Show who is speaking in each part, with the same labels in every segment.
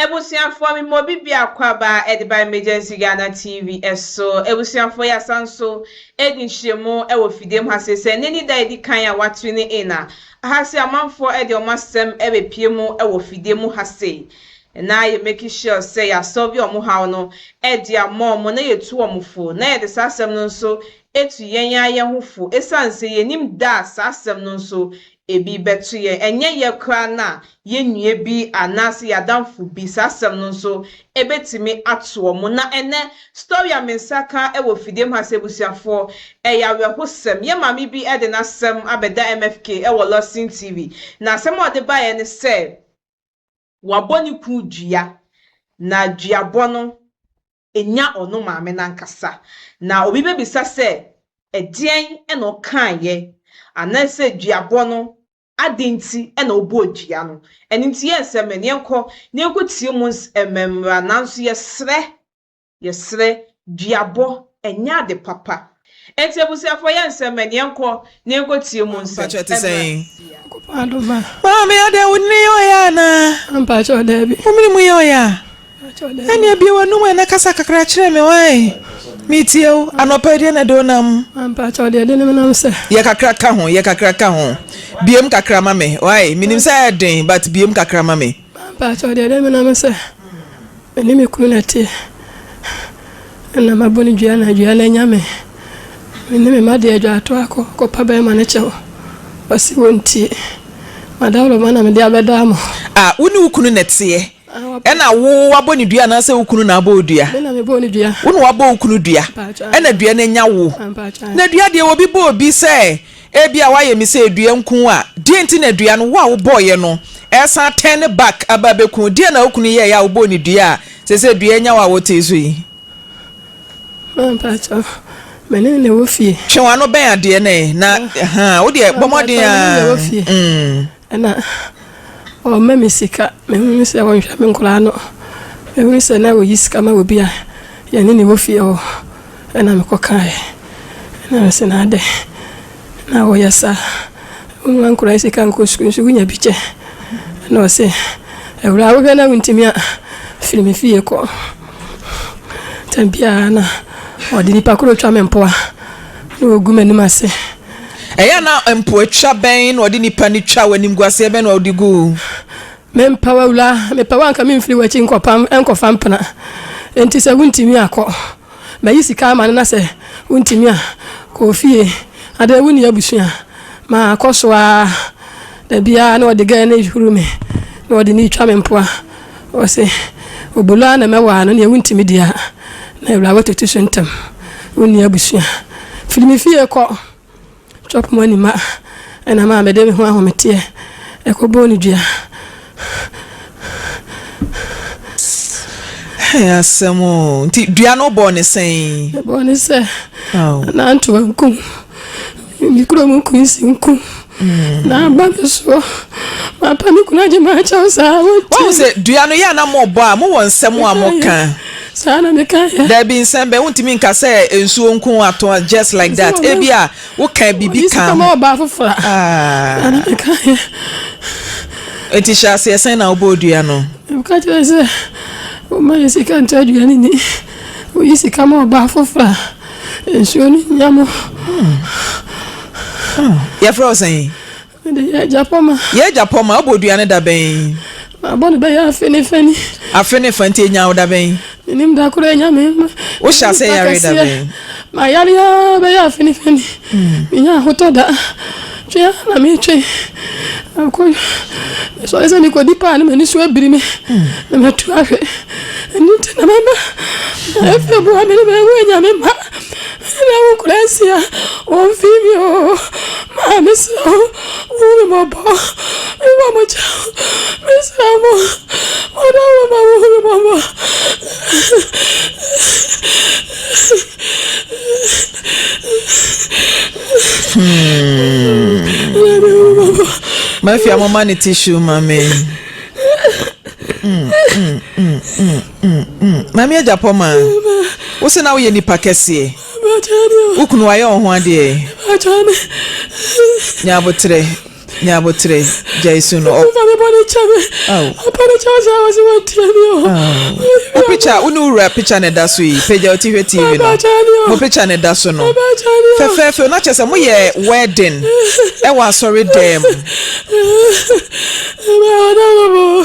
Speaker 1: Ebusuafoɔ me mɔ bi biako aba ɛde ba Emergency Ghana TV ɛso. Ebusuafoɔ yɛ asan so edi nhyiremu ɛwɔ fidiem ha seisei. Ɛnɛ ne da edi kan a wa tune in a. Aha se amanfoɔ ɛde ɔmo asɛm ɛbɛ pie mu ɛwɔ fidie mu ha sei. Na yɛ make sure sɛ yɛ asɔlve ɔmo haw no ɛde ama ɔmo na yɛ tu ɔmo fo. Na yɛde saa asɛm no nso etu yɛn ara yɛn ho fo. Esan se yɛ nim da a saa asɛm no nso Ebi bɛto yɛn, ɛnyɛ yɛ koraa na yɛn nua bi anaasɛ yɛn adamfo bi. Saa asɛm no nso, ebetumi ato wɔn. Na ɛnnɛ, story a me nsa ka wɔ fidie mu ha sɛ abusuafoɔ, ɛyɛ awerɛhosɛm. Yɛn maame bi de n'asɛm abɛda MFK wɔ Lawson TV. Na asɛm a ɔde baeɛ ne sɛ, wabɔ ne kunu dua, na duabɔ no, nya ɔno maame no ankasa. Na obi bɛbisa sɛ, Ɛdeɛn na ɔkaeɛ? Anaasɛ duabɔ no, adɛn nti na ɔbɔɔ dua no? Ɛno nti yɛn nsɛm no, yɛnkɔ na yɛnkɔtie mu mmra. Nanso yɛsrɛ, yɛsrɛ, duabɔ, ɛnyɛ ade papa. Enti abusuafoɔ yɛ nsɛm bɛn? Yɛnkɔ na yɛnkɔtie mu nsɛm. Mpakyɛ ɛte sɛn? Nyankopɔn
Speaker 2: adom a. Maame adɛn wo nene yɛ ɔyɛ anaa? Mpakyɛ daabi.
Speaker 1: Wo mene mu yɛ ɔyɛ a?
Speaker 2: Mpakyɛ daabi. Ɛneɛ bue w'anum ɛ na kasa kakra kyerɛ me wae? Metie wo. Anɔpa yi deɛ na ɛde wo nam? Mpakyɛ deɛ ɛde ne
Speaker 1: menam sɛ. Yɛ kakra ka ho, yɛ
Speaker 2: kakra ka ho. Bue mu kakra ma me wae? Menim sɛ ɛyɛ den but bue mu kakra ma me. Mpakyɛw deɛ dɛ menam
Speaker 1: sɛ me ne me kunu na ɛteɛ ɛna mabɔ no dua na dua no anya me me ne me mma deɛ adwaato akɔ kɔpa bɛɛma no kyɛw ɔse wɔntie madawloma na mede abɛdaa mo. A, wo ne wo kunu
Speaker 2: na ɛteɛ ɛna wo abɔ no dua anaasɛ wo kunu na abɔ wo dua? Me na mebɔɔ no dua. Wo
Speaker 1: na wabɔ wo kunu dua
Speaker 2: ɛna dua no anya wo na dua deɛ obi bɔ obi sɛ Ebia woayɛ me sɛ dua nku a, deɛn nti na dua no, wo a wobɔeɛ no, ɛresan turn back aba abɛku wo? Deɛn na wo kunu yɛeɛ a wobɔɔ no dua a seesei dua anya wo a wotee so yi? Ma mpakyɛ,
Speaker 1: me ne ne wɔ fie. Twe w'ano bɛn adeɛ
Speaker 2: no ɛ, na, ɛhaa, wo deɛ bɔ mmɔden ara, mm. Ɛna
Speaker 1: ɔma me sika. Mehunu sɛ ɔnhwɛ me nkwadaa ano. Mehunu sɛ na ɔyi sika ma obi a yɛne ne wɔ fie hɔ. Ɛna mekɔkaeɛ. Ɛna ɔse na adɛn na woyɛ saa? Woma nkwadaa yi sika nkɔ sukuu nso wonya bi kyɛ. Ɛna ɔse awuraa wohwɛ na wontumi a, firi me fie kɔ. Tam biara na ɔde nipa koro twa me mpoa na ɔgu m'anim ase. Ɛyɛ a na
Speaker 2: mpoatwa bɛn na ɔde nnipa no twa wo, animguaseɛ bɛn na ɔde gu wo? Mempɛ wo
Speaker 1: awura, mepɛ wo a anka memfiri w'akyi nkɔpa nkɔfa mpena. Enti sɛ wontumi a, kɔ. Mayi sika ama no na sɛ wontumi a, kɔ ofie. Adɛn, wonni abusua? Makɔ so ara, da biara na ɔde gɛɛ no rehuru me, na ɔde no retwa me mpoa. Ɔse, Obolo ara na mɛwaa no, neɛ wontimi di a, na awurawa tutu so ntɛm, wonni abusua. Firi me fie kɔ, chop money ma ɛnam a mede me ho ahometeɛ ɛkɔbɔɔ no dua.
Speaker 2: Hey asɛm o, nti dua no bɔɔ no sɛn? Ɛbɔɔ no sɛ,
Speaker 1: nanto ankum. Mede kuro mu kunsi nku mm. na aba me soɔ mapa me kunu agye ma akyɛw saa wohu sɛ dua
Speaker 2: no yɛ ana mobɔ a mowɔ nsɛm a moka saa na meka
Speaker 1: yɛ daabi nsɛm bɛ wontumi
Speaker 2: nka sɛ nsuo nko ato just like that ebi a woka biribi ka ho ɔba afoforɔ a
Speaker 1: ah. na meka yɛ
Speaker 2: enti hyɛ aseɛ sɛn na wobɔ dua no meka kyerɛ sɛ
Speaker 1: woma yɛ sika nto aduane ni woyi sika ma ɔba afoforɔ a Nsuo no nya mo.
Speaker 2: Yɛfrɛ wo sɛn? Mede yɛ agya
Speaker 1: pɔma. Yɛ agya pɔma, wobɔ dua no
Speaker 2: da bɛn? Mabɔ no bɛyɛ
Speaker 1: afe ne fani. Afe ne fa nti ɛnya wo da
Speaker 2: bɛn? Menim da koro ɛnya
Speaker 1: me. Wohyɛ ase yare
Speaker 2: da bɛn? Mayare ara
Speaker 1: bɛyɛ afe ne fani. Menya ahotɔ da. Twe ara na metwe. Ɛkɔ mesɔre sɛ mekɔdi paa na m'ani so abiri me na matu ahwɛ. Ɛno nti na mɛma ɛfɛ boa me ne mawu anyame mma. Ɛna wo nkora nsia wɔmfii me o. Maa mesrɛ wo wo me mmɔbɔ. Mebɔ mo kyɛ o. Mesrɛ mo ɔdɔ wo ma wo me mmɔbɔ.
Speaker 2: Mafia hmm. mama ne tissue ma me. Hmm, hmm, Mami Ajapɔ ma wo se na woyɛ nipa kɛseɛ wo kunu wayɛ wo ho adeɛ nyɛ aboterɛ Ne aboterɛ gyae su no ɔp. Awurade bɔne kyɛ me. Ao. Abɔne kyɛ wo sɛ wɔ se wɔntie me o. Ao. Apicture wo ne wo wura picture na ɛda so yi, pagya wo ti hwɛ TV no. Ɛbɛkyɛre me o. Mo picture na ɛda so no. Ɛbɛkyɛre me o. Fɛfɛɛfɛ o, na kyerɛ sɛ moyɛ wedding wɔ asɔre dan mu. Ɛbɛyɛ ɔdɔ no bo.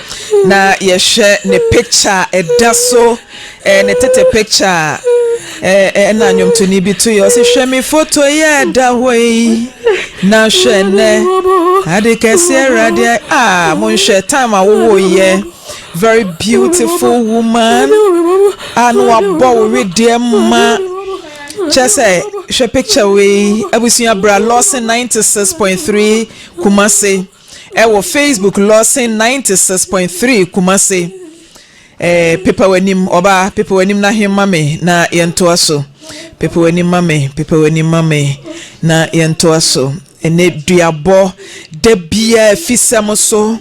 Speaker 2: Na yɛhwɛ ne picture a ɛda so ɛɛ ne tete picture a ɛɛ ɛna nnwomtoni bi to yɛ ɔsi hwɛ mi foto yi a ɛda hɔ yi na hwɛ nɛ ade kɛse awurade a ah, mo nhwɛ time a wowɔ yɛ very beautiful woman a na wabɔ wo wedeɛ ma kyɛ sɛ hwɛ picture wei abusua bra lɔsen ninety six point three kumase. Ɛwɔ Facebook Lawson ninety six point three Kumasi eh, Pepa w'anim ɔbaa Pepa w'anim na he ma me na yɛntoa so Pepa w'anim ma me Pepa w'anim ma me na yɛntoa so Ɛnɛ duabɔ da biara afisɛm so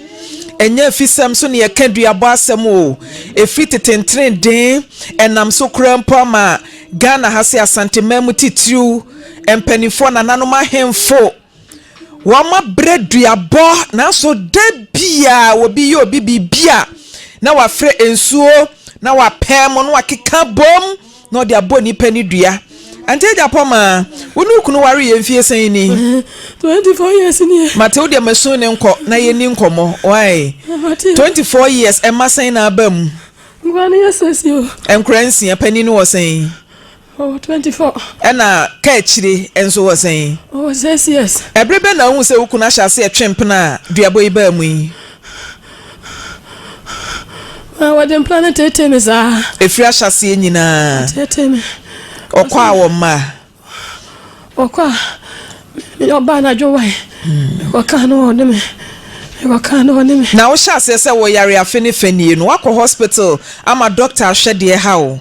Speaker 2: ɛnyɛ afisɛm so ne yɛka duabɔ asɛm o ɛfiri tetentene den ɛnam so koraa mpo ama Ghana ha se Asante man mu titiriw mpanimfoɔ nananom ahemfo Wɔma brɛ duabɔ nanso da biara obi yɛ obi biribi a na wafrɛ nsuo na wapɛɛ mu na wakeka bom na ɔde abɔ nipa ne dua. Ante Agyapong ma wo ne wo kunu ware yɛ mfie sɛn ni? Twenty four
Speaker 3: years ni ɛ. Mate wo deɛ masu ne
Speaker 2: nkɔ na yɛ ni nkɔmɔ why? Twenty four years ɛma sɛn na aba mu? Nkura ne yɛ
Speaker 3: sɛsi o. Nkura nsia panin
Speaker 2: no wɔ sɛn? Ɔwɔ twenty
Speaker 3: four. Ɛna
Speaker 2: kaakyire nso ɔwɔ sɛn? Ɔwɔ six years.
Speaker 3: Ɛbere bɛn na wohuu sɛ wo
Speaker 2: kunu ahyɛ aseɛ twe mpena a duabɔ yi baa mu yi?
Speaker 3: Na wɔde mpena no tetee me saa. Ɛfiri ahyɛaseɛ
Speaker 2: nyinaa. Tetee me. Ɔkɔ a wɔmma a?
Speaker 3: Ɔkɔ a meyɛ ɔbaa na adwo wae. Mekɔkaa no ɔne me. Mekɔkaa no ɔne me. Na wohyɛ aseɛ sɛ
Speaker 2: wɔyare afe ne fa nie no, woakɔ hospital ama dɔkta ahwɛdeɛ ha wo?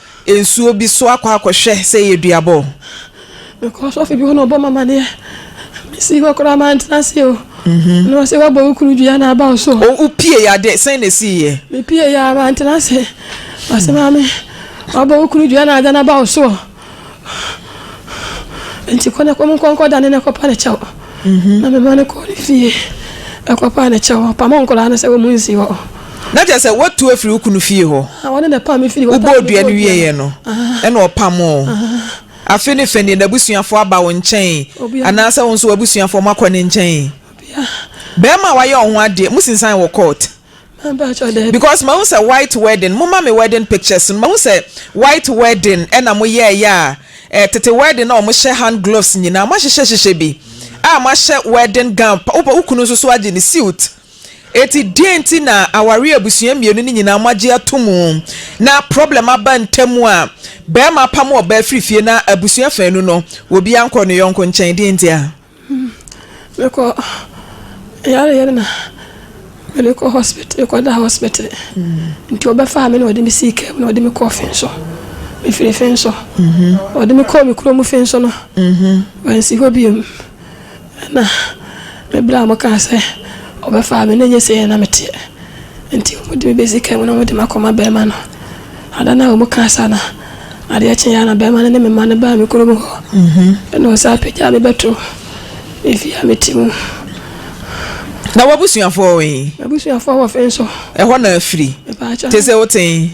Speaker 2: nsuo bi so akɔ akɔhwɛ sɛ ɛyɛ duaba o. Mekɔɔ
Speaker 3: sɔfo bi hɔ na ɔbɔɔ me amaneɛ. Mesii hɔ koraa mantena ase o. Na ɔse wabɔ wo kunu dua na aba wo so. O wopiee a dɛn
Speaker 2: sɛn na ɛsiiɛ? Mepiee a mantena
Speaker 3: ase. Ɔse maame wabɔ wo kunu dua na ada no aba wo soɔ. Enti kɔ na kɔ mu kɔ nkɔda ne na kɔpa ne kyɛw. Mhm. Na mema no kɔɔ ne fie ɛkɔpaa ne kyɛw. Ɔpamoo nkwadaa no sɛ wɔmu nsi hɔ. Na kyerɛ sɛ woatu
Speaker 2: afiri wo kunu fie hɔ. Ah, wɔne na ɛpaa me firi hɔ.
Speaker 3: Wobɔɔ dua no wieeɛ
Speaker 2: no, ɛna ɔpamoo. Afe no fɛ nie, n'abusuafoɔ aba wo nkyɛn anaasɛ wo nso w'abusuafoɔ moakɔ ne nkyɛn? Bɛrima a wayɛ wo ho adeɛ, mosinsan wɔ court? Because mahu sɛ white wedding moma me wedding pictures no mahu sɛ white wedding ɛna mo yɛɛyɛ a eh tete wedding na ɔmo hyɛ hand gloves nyinaa mo ahyehyɛ hyehyɛ bi a mo ahyɛ wedding gown pa wo kunu nso so agye ne suit eti deɛn nti na aware abusua mmienu no nyinaa mo agye ato mu na problem aba ntam a bɛɛma apam ɔbaa firi fie na abusua faanu no obi ankɔ ne yɔnko nkyɛn deɛn nti a.
Speaker 3: Mekɔ yareyɛ no na mede kɔ hospital mekɔda hospital nti wɔbɛfaa me na wɔde me sii kaa mu na wɔde me kɔɔ fen so mefiri fen so wɔde me kɔɔ me kuro mu fen so no wansi hɔ biom na mebrɛ a mokaa sɛ wɔbɛfaa me na nyɛ sɛ yɛ na meteɛ nti wɔde me bɛsi kaa mu na wɔde me akɔma bɛrima no Ada no a wɔkaa saa no, adeɛ kyeeɛ ara na barima no ne me mma no baa me kurom hɔ, ɛnna wɔsan pagyaa me bɛtoo me fie a mete mu.
Speaker 2: Na w'abusuafoɔ wɔ he? M'abusuafoɔ wɔ fe nso.
Speaker 3: Ɛhɔ na afiri?
Speaker 2: Mepaakyɛw. Te se wote he?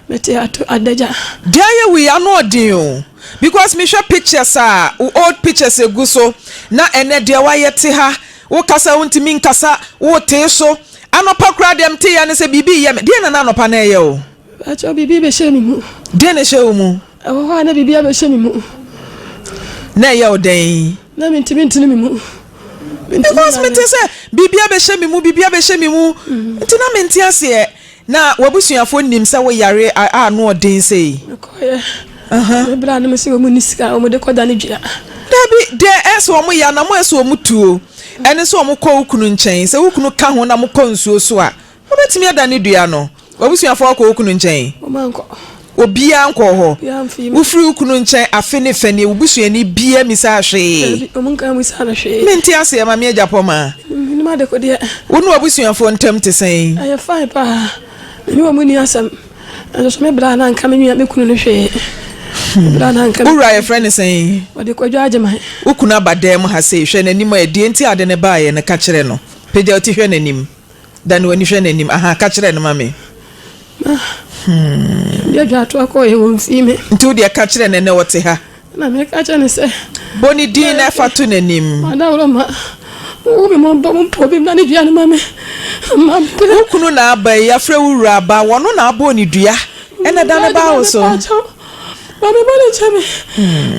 Speaker 2: Mete
Speaker 3: ato Adagya. Deɛ yɛ wei ano
Speaker 2: ɔden o because me hwɛ pictures a wo old pictures egu so na ɛnɛ deɛ wayɛ te ha wo kasa wo ntumi nkasa wo tee so Anɔpa koraa deɛ mete yɛ ne sɛ biribi reyɛ me. Deɛn na na anɔpa no reyɛ wo? Mpakyɛw, biribi rebɛhyɛ
Speaker 3: me
Speaker 2: mu.
Speaker 3: Deɛn na ɛhyɛɛ
Speaker 2: wo mu?
Speaker 3: Ɛwɔ hɔ a na
Speaker 2: biribi
Speaker 3: abɛhyɛ me mu.
Speaker 2: Na ɛyɛ wo dɛn? Na mentumi ntene me
Speaker 3: mu. Because
Speaker 2: mete sɛ biribi abɛhyɛ me mu, biribi abɛhyɛ me mu, nti na mente aseɛ. Na w'abusuafoɔ nnim sɛ woyare a ano yɛ den sei? Mekɔeɛ.
Speaker 3: Berɛ a na mese wɔnni sika a wɔde kɔdane dua. Dabi, deɛ
Speaker 2: ɛyɛ sɛ wɔyɛ a, na moyɛ sɛ wɔtuo. Ɛne sɛ wɔkɔ wo kunu nkyɛn. Sɛ wo kunu ka ho na mokɔ nsuo so a, wobɛtumi adane dua no. W'abusuafoɔ kɔ wo kunu nkyɛn?
Speaker 3: Obiara nkɔɔ
Speaker 2: hɔ. Wofiri wo kunu nkyɛn afe ne fɛ nie, wo busuani biara mmisaa hwee?
Speaker 3: Mente aseɛ, Mame Agyapɔma. Wo ne w'abusuafoɔ
Speaker 2: ntam te sɛn?
Speaker 3: Nanso so me bra na anka me nua me kunu no hwee. Me bra na anka. Wo wura yɛfrɛ no sɛn?
Speaker 2: Wɔde Kwadwo Agyeman.
Speaker 3: Wo kunu aba dan mu
Speaker 2: ha sei, hwɛ n'anim ɛ, deɛ nti a ɔde no baeɛ no, ka kyerɛ no. Pagya wo ti hwɛ n'anim. Dane w'ani hwɛ n'anim. Ahaa, ka kyerɛ no ma me. Ma. Hmm.
Speaker 3: Yɛn dwadwatoa kɔeɛ, wɔmfii me. Nti wo deɛ ka kyerɛ no
Speaker 2: ɛnnɛ ɔte ha. Ɛnna meka kyerɛɛ no
Speaker 3: sɛ. Bɔ ne din na
Speaker 2: fa to n'anim. Adaworoma,
Speaker 3: wo me mmɔbɔ, wo mpo bem na ne dua no ma me, ma mpere. Wo kunu na aba
Speaker 2: yi, yɛafrɛ wo wura ba, wɔno na abɔ ne dua, ɛnna da no baa wo so.
Speaker 3: Ma me bɔne kyɛ me,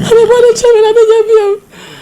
Speaker 3: ma me bɔne kyɛ me na menya bio.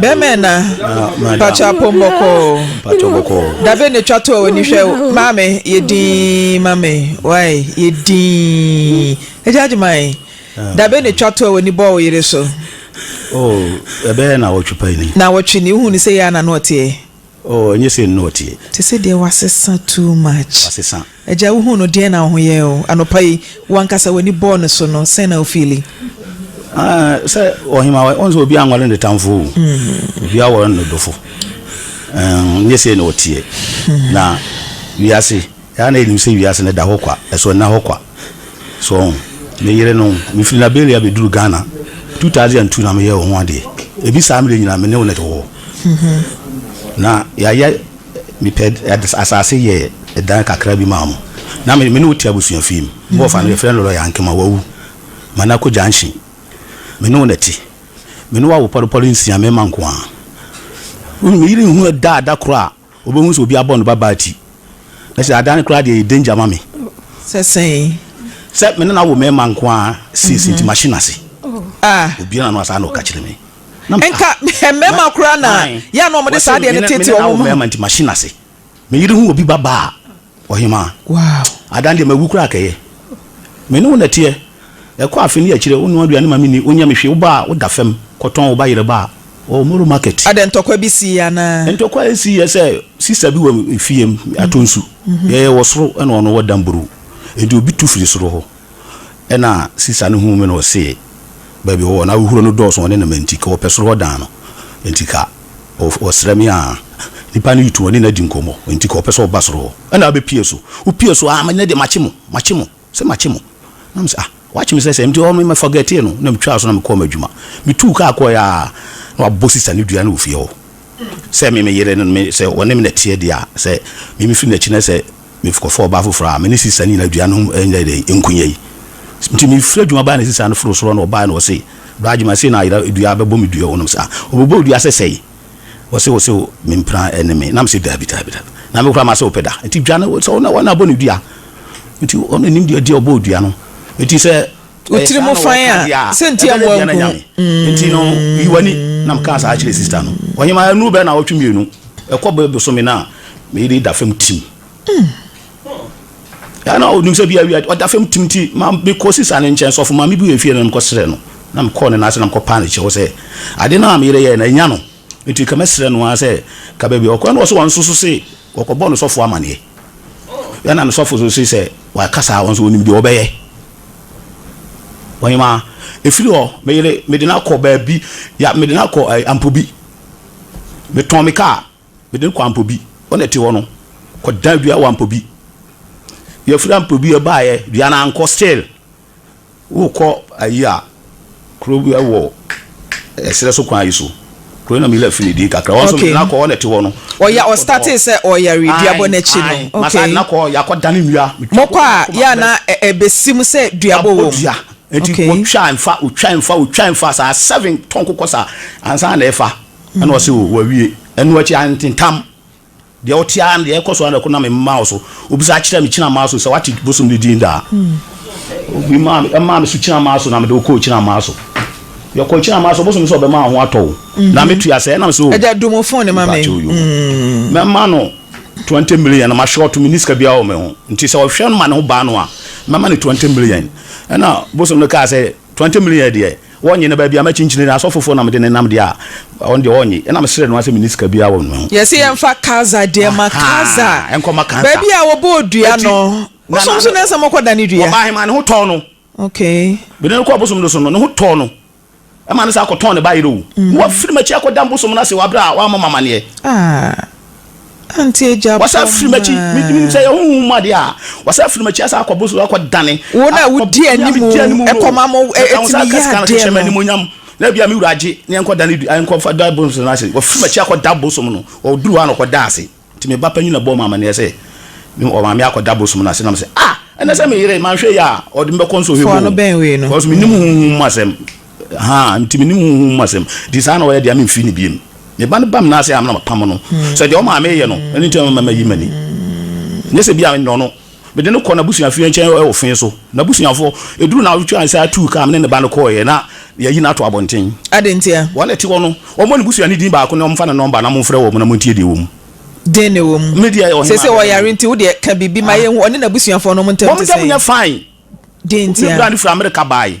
Speaker 2: Bɛmɛ na mpakyɛ apom bɔkɔɔ dabe na twa to a wani hwɛ maame yɛ dinn mame wae yɛ dinn agya agyeman dabe na twa to a wani bɔ wo yere so. Oh,
Speaker 4: ɛbɛyɛ na wɔtwe pa ni. Na wɔtwe ni, wohu ni sɛ
Speaker 2: yɛ a na no ɔteɛ. Oh ɛnyɛ sei no
Speaker 4: na ɔteɛ. Te sɛ deɛ wasesa
Speaker 2: too much. Wasesa. Agya wohuu
Speaker 4: no deɛn
Speaker 2: na wo ho yɛɛ wo anɔpa yi? Wo ankasa w'ani bɔɔ no so no sɛn na wo fiili? Ah
Speaker 4: sɛ ɔhema wɔ sɛ obiara nware ne tamfo o obiara wɔ ne dɔfo ɛɛ nyɛ sei na ɔteɛ na wiase. Yɛn ara yenim sɛ wiase no da hɔ kwa, ɛso nna hɔ kwa. So woahu? Me yere no, mifii Liberia beduu Ghana two thousand and two na meyɛɛ wo ho ade. Ebi saa mmere nyinaa me ne wo na ɛte hɔ. Na yɛayɛ, mepɛ asase yɛɛ dan kakra bi maa mo. Na me ne wo te abusua fie mu. Bɔɔfa no, yɛfrɛ no Lɔya Ankema, wawu. Manako Junction. Me ne wo na ɛte. Me ne wo awo pɔrepɔre nsia, mmarima nko ara. Wohu, me yere nhuu da a da koro a Obehu sɛ obi abɔ no babaa ti. Na sɛ adan no koraa deɛ ɛyɛ danger ma me. Sɛ sɛn?
Speaker 2: Sɛ me ne
Speaker 4: no awo mmarima nko ara seesei nti mahye no ase. Obiara no a saa na ɔka kyerɛ me. Na me, ah. Nka
Speaker 2: mmarima koraa na yɛ a na wɔde saa adeɛ no teetee wɔn ho. Wɔse me ne no awo mmarima nti mahye no ase.
Speaker 4: Me yere hu obi babaa a, Ɔhemaa. Wow. Ada
Speaker 2: ndeɛ mawu koraa
Speaker 4: kɛyɛ. Me ne wo na ɛteɛ. Ɛkɔ afe ne akyire wo noa aduane ma me ni, wo nyɛ me hwee, wo ba a wo da fam kɔ tɔn wo ba yere ba wɔ Moro market. Ada ntɔkwa bi sii
Speaker 2: anaa. Ntɔkwa a ɛsii yɛ sɛ
Speaker 4: sister bi wɔ fie mu atɔ nsu, yɛyɛ wɔ soro ɛna ɔno wɔ damburuw nti obi tu firi soro hɔ. Nna sista no hun me na ɔsee, Baabi a ɔwɔ no, ahohuro no dɔɔso wɔ ne nam nti, ka ɔpɛ soro hɔ dan no nti ka ɔsrɛ me aa. Nipa no tu ɔne no adi nkɔmmɔ nti ka ɔpɛ sɛ ɔba soro hɔ na abɛpue so. Wopue so aa, ɛnɛ deɛ makye mo, makye mo, se makye mo. Na me se ah, wakye me sɛ sɛn? Nti ɔno me forgetee no na metwaa so na mekɔɔ m'adwuma. Metuu kaa kɔeɛ aa na wabɔ sista no dua no wɔ fie hɔ sɛ me me yere no, me sɛ ɔne me na ɛteɛ deɛ a, sɛ me mefiri n'akyi na sɛ. Mekɔfa ɔbaa foforɔ a me ne Sisa no nyinaa dua no ho nyɛ dɛ, nku nyɛ yi. Nti mefiri adwuma baa na Sisa no foro soro na ɔbaeɛ na ɔse, Bra Gyimah sei na ayera dua bɛbɔ me dua o na mese, Ah! Ɔbɛbɔ wo dua sɛ sɛn? Ɔse, Ɔse o mempena ɛne me na mese, Daabi daabi daabi na me koraa mase wo pɛ da nti dwa no sɛ wo na abɔ no dua nti ɔno nim deɛ ɔbɔ wo dua no nti sɛ wo tiri mu fan
Speaker 2: a sɛ nti a wɔn nko nti no
Speaker 4: yi wani na mka saa kyerɛ sista no ɔhema ɛnu bɛɛ na ɔtwe mmienu ɛkɔ bɛ bosome no a meyere da fam tim ɛna ɔnim sɛ bia wia ɔda fam tim ti ma mekɔ sista no nkyɛn sɔfo ma mebu efie no mekɔ serɛ no na mekɔɔ ne n'ase na mekɔ paa ne kyɛw sɛ ade no a meyere yɛ na ɛnya no nti ka mɛserɛ no ara sɛ ka baabi ɔkora no wɔ so wɔn nso so se Wɔkɔbɔɔ no sɔfo amanneɛ. Yɛn na no sɔfo nso se sɛ wɔaka saa a, wɔn nso wɔnim deɛ wɔbɛyɛ. Ɔhemaa, ɛfiri hɔ, me yere, mede no akɔ baabi, ya, mede no akɔ ɛɛ, Ampobi. Metɔn me kaa, mede no kɔɔ Ampobi. Hɔ na ɛte hɔ no, kɔdan dua wɔ Ampobi. Yɛfiri Ampobi, yɛbaeɛ, dua no ankɔ, still, Wokɔ ayi a, kuro bi wɔ ɛserɛ so kwan yi so. Kuro yi na Mila fi ne din kakra. Wɔn nso na kɔ hɔ na ɛte hɔ no. Ɔya ɔstate sɛ
Speaker 2: ɔyare dua bɔ n'akyi no. Okay. Na saa na kɔ yɛ akɔ
Speaker 4: dane nnua. Mokɔ a yɛ a na
Speaker 2: ɛbɛsi mu sɛ dua bɔ wɔ mu. Nti wɔtwa
Speaker 4: nfa wɔtwa nfa wɔtwa nfa saa seven tɔnko kɔ saa ansa na ɛfa ɛna ɔsɛ o wawie ɛno akyi antentam. Deɛ ɔte ara ne deɛ ɛrekɔ so ara na ɛkɔ nam me mma wo so. Wobisa kyerɛɛ me Kyirammaa so sɛ woate bosom no din daa? Obi maa me, ɛmaa me so Kyirammaa so na mede wo kɔɔ Kyirammaa so. Yɛkɔɔ Kyirammaa so, ɔbosom no sɛ ɔbɛma wo ho atɔ wo. Na metua sɛ, ɛnam sɛ o. Agya, do mo phone no ma me.
Speaker 2: Mɛma
Speaker 4: no twenty million na mahwɛ ɔto, menni sika biara wɔ me ho. Nti sɛ ɔhwɛ no ma ne ho ba no a, mɛma no twenty million. Ɛnna bosom no kaa sɛ, Twenty million deɛ, Wɔnnye no baabi a m'akyinkyini no asɔfofoɔ na mede no nam deɛ a, ɔno deɛ ɔnnye. Ɛnna mesrɛɛ no ara sɛ menni sika biara wɔ me ho. Yɛse yɛmfa Kaza
Speaker 2: deɛ ma Kaza. Ahaa, ɛnkɔ ma Kaza. Baabi
Speaker 4: a wɔbɔɔ dua
Speaker 2: Enti, no, na, bosom na, so na, na ɛsɛ sɛ mokɔdane dua. ɔbaa hemaa ne ho tɔɔ no.
Speaker 4: Okay. Mede
Speaker 2: no kɔɔ bosom no
Speaker 4: so no, ne ho tɔɔ no. Ɛmaa no san kɔtɔn ne bayerɛ o. Na wafiri m'akyi akɔdane bosom no ase wɔ berɛ a wammɔ me amanneɛ. Ah.
Speaker 2: Wɔsan firi m'akyi,
Speaker 4: menim sɛ ɛyɛ honhom mu adeɛ a, wɔsan firi m'akyi asan akɔboro so akɔdane. Wo na wodi
Speaker 2: anim o, ɛkɔma mo, ɛtumi yɛ adeɛ no. Na ebia
Speaker 4: me wura agye na yɛnkɔdane nkɔfa da bosom no ase. Wɔfiri m'akyi akɔda bosom no, wɔduru hɔ a na wɔkɔda ase. Nti me ba panin na bɔɔ me amanneɛ sɛ, wɔma me akɔda bosom no ase. Na mese, Ah! Ɛnnɛ sɛ me yere, manhwɛ yie a, ɔde me bɛkɔ nsɔhwɛ mu o, because mennim
Speaker 2: honhom mu
Speaker 4: asɛm. Ahaa, nti menni honhom mu asɛm. Nti saa na ɔyɛ deɛ, memfiri no bio. Me ba no ba me nan ase a, na mapamo no. Sɛ deɛ ɔma a mereyɛ no, ɛno nti na mayi m'ani. Nyɛ sɛ ebia mennɔ no. Mede no kɔ n'abusuafie nkyɛn wɔ fee so. N'abusuafoɔ, ɛduruu nnawɔtwe a yɛsan tuu kaa me ne ne ba no kɔeɛ na yɛayi no ato abɔnten. Adɛn ntia? Wɔn a ɛte
Speaker 2: hɔ no,
Speaker 4: wɔmmɔ ne busuani din baako na wɔmfa ne nɔmba na momfrɛ wɔn na montie deɛ ɛwɔ mu. Dɛn na ɛwɔ
Speaker 2: mu? Me deɛ, ɔhemmaa Seesei bɛba ɔyare
Speaker 4: mu. nti, wo deɛ,
Speaker 2: ka biribi ma Ah. yɛnhu. Ɔne n'abusuafoɔ no, wɔn ntam Wɔn te ntam sɛn? nyɛ fine.
Speaker 4: Dɛn Ne ntia? bra
Speaker 2: no firi Amerika
Speaker 4: baeɛ.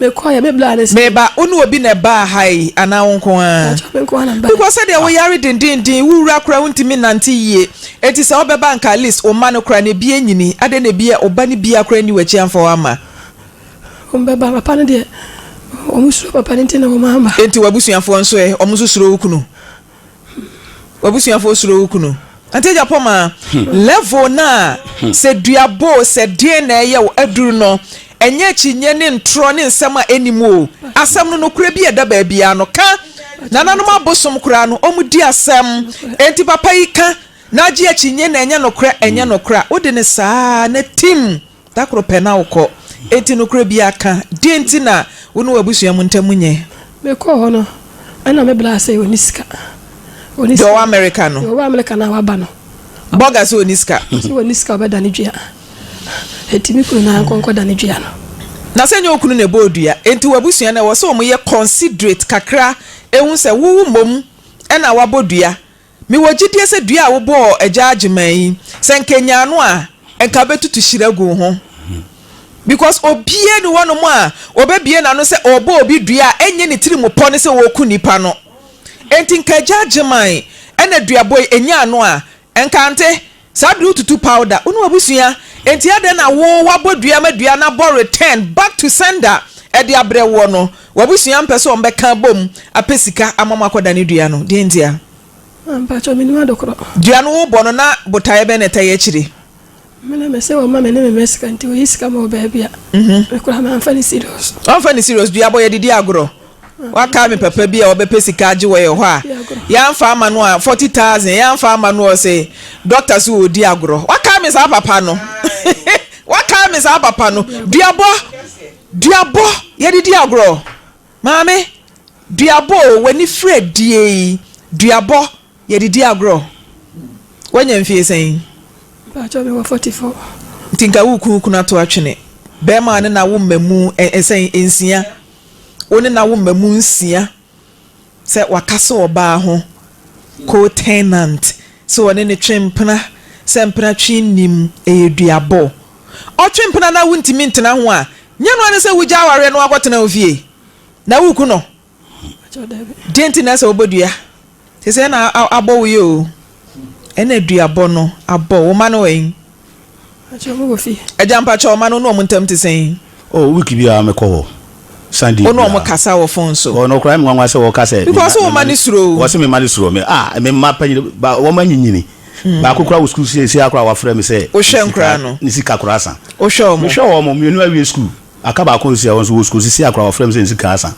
Speaker 2: Mekɔeɛ, me bra
Speaker 3: ne sɛ. Meba, wo ne obi na
Speaker 2: ɛbaa ha yi anaa wo nko ara? Mpakyɛ me nko ara na mebaeɛ. Because sɛdeɛ wo yare dendennden, wo wura koraa wontumi nnante yie, enti sɛ wobɛba anka at least wo mma no koraa no ebi anyini, adɛn na ebi a ɔba no biara koraa nni w'akyi amfa wo amma? Wɔn bɛba,
Speaker 3: papa no deɛ wɔn suro papa no nti na wɔn amma. Enti w'abusuafoɔ nso
Speaker 2: ɛ, wɔn nso suro wo kunu? W'abusuafo osuro wo kunu. Auntie Japoma, level no a sɛ dua boo sɛ deɛn na ɛyɛ wo aduru no, ɛnyɛ akyinnye ne ntorɔ ne nsɛm a ɛnni mu o. Asɛm no, nokorɛ bi a ɛda baabiara no, ka. Nananom abosom koraa no, wɔdi asɛm. Enti papa yi ka na agye akyinnye na ɛnyɛ nokorɛ, ɛnyɛ nokorɛ a, wode no saa ara na tim. Da koro pɛ na wokɔ. Enti nokorɛ biara ka. Deɛn nti na wo ne w'abusua mu ntam nyɛ? Mekɔɔ hɔ no,
Speaker 3: ɛna me braa sɛ ɔnni sika. Ɔnni sika. Deɛ
Speaker 2: ɔwɔ Amerika no? Deɛ ɔwɔ Amerika no a waba
Speaker 3: no. Burger sɛ ɔnni
Speaker 2: sika. Ɔse ɔnni sika a ɔbɛdane
Speaker 3: dua. Enti me kunu na nkɔ nkɔdane dua no. Na sɛ nyɛ wo kunu
Speaker 2: na ɛbɔɔ dua. Enti w'abusua no ɛwɔ sɛ wɔyɛ considerate kakra ɛhu sɛ wo mmom na wabɔ dua Mewɔ gyidie sɛ dua a wobɔɔ Agya Agyeman yi, sɛ nka ɛnyaa no a, nka bɛtutu hyira guu ho. Because obiara nni hɔ nom a ɔbɛbue n'ano sɛ ɔrebɔ obi dua a ɛnyɛ ne tiri mu pɔ ne sɛ ɔreku nnipa no. Enti nka Agya Agyeman na duabɔ yi ɛnyaa no a, nka ante Saa bere wotutu powder. Wo ne w'abusua. Enti adɛn na wo, woabɔ dua ma dua no abɔ return, back to sender, de abrɛ woɔ no? W'abusua mpɛ sɛ wɔbɛka abom apɛ sika ama mo akɔdane dua no. Deɛn ntia? Ah, mpakyɛ,
Speaker 3: mennim ade korɔ. Dua no wobɔ no na
Speaker 2: botaeɛ bɛn na ɛtaa yi akyire? Me na mese
Speaker 3: wɔmma me ne me mma sika nti wɔyi sika ma wɔ baabi a, me koraa mamfa no serious. Wamfa no serious? Dua bɔ, yɛde di
Speaker 2: agorɔ. Wakae me papa bi a ɔbɛpɛ sika agye wɔ yɛn hɔ a, yɛamfa ama no a, forty thousand, yɛamfa ama no a, ɔse dɔkta se ɔredi agorɔ. Wakae me saa papa no. Wakae me saa papa no. Duabɔ, duabɔ, yɛde di agorɔ. Maame, duabɔ o, w'ani firi adie yi, duabɔ, yɛde di agorɔ. Wanya mfie sɛn? Mpakyɛ mewɔ
Speaker 3: forty four. Nti nka wo
Speaker 2: kunu kunu ato atwene. Bɛrima a ne na wo mmamu sɛn, nsia. wo ne na wo mma mu nsia sɛ waka sɛ ɔbaa ho co-tenant sɛ ɔne no twe mpena sɛ mpena twe nnim ɛyɛ duabɔ ɔtwe mpena na wo ntumi ntena ho a nyɛ noa ne sɛ wo gya awareɛ na wakɔ tena wo fie na wo ku no deɛ nti na ɛsɛ wobɔ dua. Te sɛ na abɔ wo yɛ o. Ɛna aduabɔ no abɔ wo mma no wɛn? Mpakyɛw mowɔ fie? Agya mpakyɛw mma no wo ne wɔn ntam te sɛn? Oh week biara
Speaker 4: me kɔ hɔ. Sunday biara. Wo ne wɔn kasa wɔ
Speaker 2: phone so? Oh nokora me nwanwa sɛ wɔka
Speaker 4: sɛ. Because wo mma no suro wo.
Speaker 2: Wɔse me mma no suro me.
Speaker 4: Ah me mma panyin ba wɔn anyinyini. Baako koraa wɔ school seisei ara koraa wafrɛ me sɛ. Wo hwɛ nkoraa no? Ne
Speaker 2: sika koraa sa.
Speaker 4: Wo hwɛ wɔn? Me hwɛ wɔn,
Speaker 2: mmienu awie
Speaker 4: school. Aka baako nso a ɛwɔ nso wɔ sukuu seesei a koraa wɔfrɛ me sɛ nsi ka asa.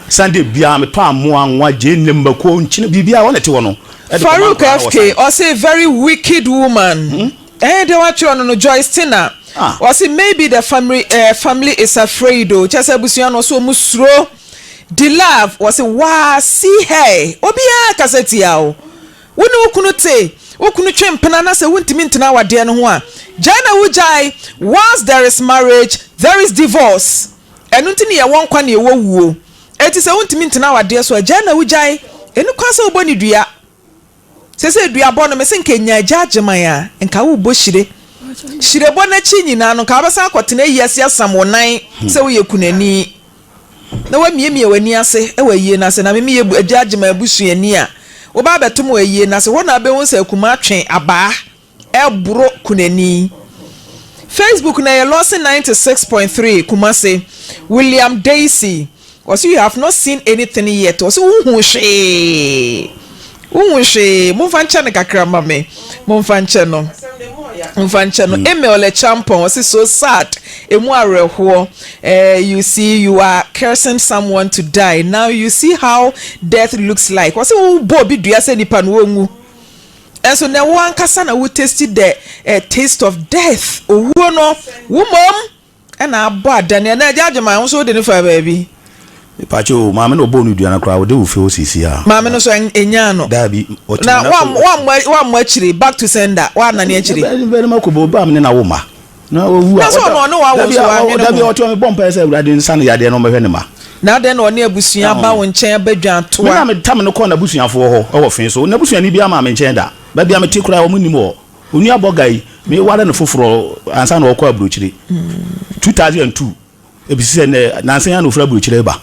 Speaker 4: Sunday biara metɔ amoa, anwa, gyeene, mako, nkyene, biribiara a wɔn na ɛte hɔ no de kɔma Farouk nkwadaa no wɔ FK
Speaker 2: science. ɔse very wicked woman ɛɛ deɛ watwerɛ no no Joyce Tina Ah. ɔse maybe the family ɛɛ family is afraid o kyɛsɛ abusua no ɔse ɔmo suro Dilove ɔse waa see her obiara kasa tia wo. Wo ne wo kunu te, wo kunu twe mpena na sɛ wontumi ntena awadeɛ no ho a, gyae na wogyae, whilst there is marriage, there is divorce. Ɛno nti na yɛwɔ nkwa na yɛwɔ wuo. Enti sɛ wontumi ntena awadeɛ so a, gyae na wogyae. Ɛnni kwan sɛ wobɔ no dua. Seesei duabɔ no, mese nka ɛnya agya Agyeman a, nka worebɔ hyire. Hyirebɔ no akyi nyinaa no, nka wobɛsan akɔtena ayiase asam wo nan sɛ woyɛ kunani. na woamiamia w'ani ase wɔ ayie no ase, na me meyɛ agya agye m'abusuani a, woba abɛtom wɔ ayie no ase. Hɔ na wobɛhu sɛ akumaa twe abaa boro kunani. Facebook na ɛyɛ Lawson ninety six point three Kumasi, William Daisy, ɔse you have not seen anything yet, ɔse wonhuu hwee. Wonhu hwee. Momfa nkyɛ no kakra mma me. Momfa nkyɛ no. Momfa nkyɛ no. Emil le Champon, ɔse, So sad, ɛmu awerɛhoɔ. Eh, you see, you are cursing someone to die. Now you see how death looks like. Ɔse, Wobɔ obi dua sɛ nipa no ɔnwu. Nanso nnɛ wo ankasa na wo taste the eh, taste of death. Owuo no, wo mmom. Ɛna abɔ adan yi. Ɛna agya Agyeman wo nso wode no faa baabi. Mepakyɛ o,
Speaker 4: maame na ɔbɔɔ no dua no koraa ɔde wo fie hɔ seesei a. Maame no so ɛnyaa
Speaker 2: no. Daabi, ɔtumi na
Speaker 4: so. Na
Speaker 2: wammɔ akyire, back to sender, wannane akyire. Ɛbɛyɛ ne barima kɔbɔ ɔbaa me
Speaker 4: ne n'awo mma. Na wawu a. Na sɛ ɔno ɔne w'awo nso
Speaker 2: wannwene ho. Daabi, ɔtɔ mebɔ mpaeɛ sɛ
Speaker 4: Awurade nsa no yadeɛ na ɔmmɛhwɛ ne mma. Na adɛn na ɔne
Speaker 2: abusua aba wo nkyɛn abɛdwan toa. Me na metam no kɔɔ
Speaker 4: n'abusuafoɔ hɔ wɔ fee so. N'abusuani biara mmaa me nkyɛn da. Baabi a mete koraa wɔn nnim hɔ. Onua Boga yi, me ware no foforɔ ansa na ɔkɔ aburokyire. Two thousand and two, ebi sisɛ nɛ nansa yi na ofiri aburokyire reba.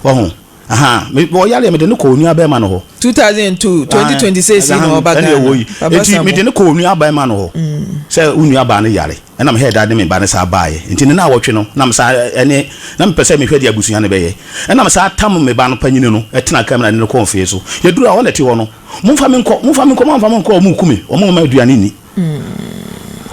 Speaker 4: Wɔho, ahaa, me ɔyare yɛ me de ne kɔ onua bɛɛma no hɔ. Two
Speaker 2: thousand and two, twenty twenty six yi na ɔba Ghana. Eti me de ne
Speaker 4: kɔ onua bɛɛma no hɔ sɛ wo nua baa no yare, ɛna me hɛɛda ne me ba no saa baa yɛ. Nti ne naawɔtwe no na me saa ɛne, na me pɛ sɛ me hwɛ deɛ abusua no bɛyɛ. Ɛna me saa tam me ba no panyini no ɛtena kaa mu na ne no kɔɔ nfee so. Yɛ duru a, hɔ na ɛte hɔ no. Momfa me nkɔ, momfa me nkɔ, moamfa me nkɔ a, wɔreku me, wɔmma aduane nni.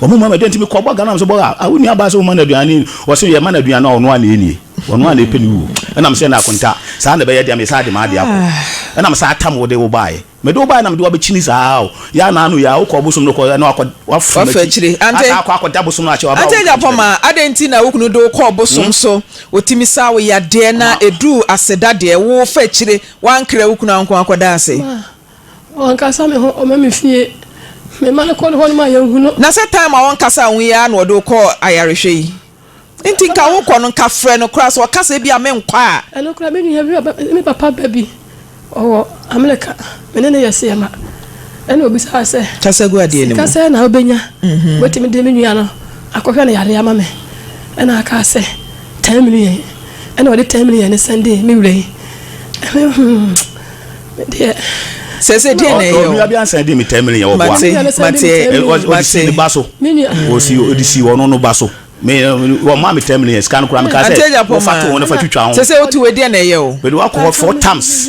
Speaker 4: Wɔmma me, dɛn nti mekɔbɔ Ghana sɛ bɔ a, a wo nuabaa sɛ woma no aduane, wɔse yɛma no aduane a ɔno ara na ɛnnie, ɔno ara na ɛpɛ ne wuo. Ɛna mese ɛnna akonta, saa na ɛbɛyɛ deɛ mesan de m'adeɛ akɔ. Ɛna mese atam wode wo baeɛ, mede wo baeɛ na mede wo abɛkyini saa ara o, yɛ a na ano yɛ a wokɔ ɔbosom no kɔ na wakɔ, wafiri Wafa m'akyi, akyire. Ante, asan akɔ
Speaker 2: akɔda bosom
Speaker 4: no akyɛ, waba ante anya wɔnka pɔma, nkyerɛ me. adɛn
Speaker 2: nti na wo kunu de wo kɔ ɔbosom so, ɔtumi saa wo yadeɛ na Ama. ɛduru aseda deɛ, wofa akyire. Woankra wo kunu anko akɔda ase? Ma ɔnkasa
Speaker 3: me ho, ɔma me fie. Me ma no kɔ ne hɔ no ma yɛnhu no. Na sɛ time a ɔnkasaa
Speaker 2: ho yi ara na ɔde wo kɔɔ ayarehwɛ yi? Nti nka wokɔ no, nka frɛ no koraa, sɛ ɔka sɛ ebi a menkɔ a. Ɛno koraa me nua bi,
Speaker 3: me papa ba bi, ɔwɔ Amerika, me ne no yɛ seɛma, ɛna ɔbisaa sɛ. Kasa gu adeɛ no mu. Sika
Speaker 2: sɛn na wobɛnya?
Speaker 3: Wobɛtumi de me nua no Akɔhwɛ no yare ama me. Ɛna akaa sɛ ten million. Ɛna ɔde ten million no sɛndee me wura yi. Me hmm, me deɛ. sɛ sɛ deɛ
Speaker 2: na ɛyɛ o ɔnua bi ansa de mi ten million
Speaker 4: wɔ boa ɔde si ne ba so ɔsi ɔde si ɔno no ba so mi wɔn maa mi ten million sika no kura mi ka sɛ wɔfa to wɔn nafa twitwa ho sɛ sɛ o ti wɔ deɛ na ɛyɛ o
Speaker 2: mɛ de wakɔ hɔ four times.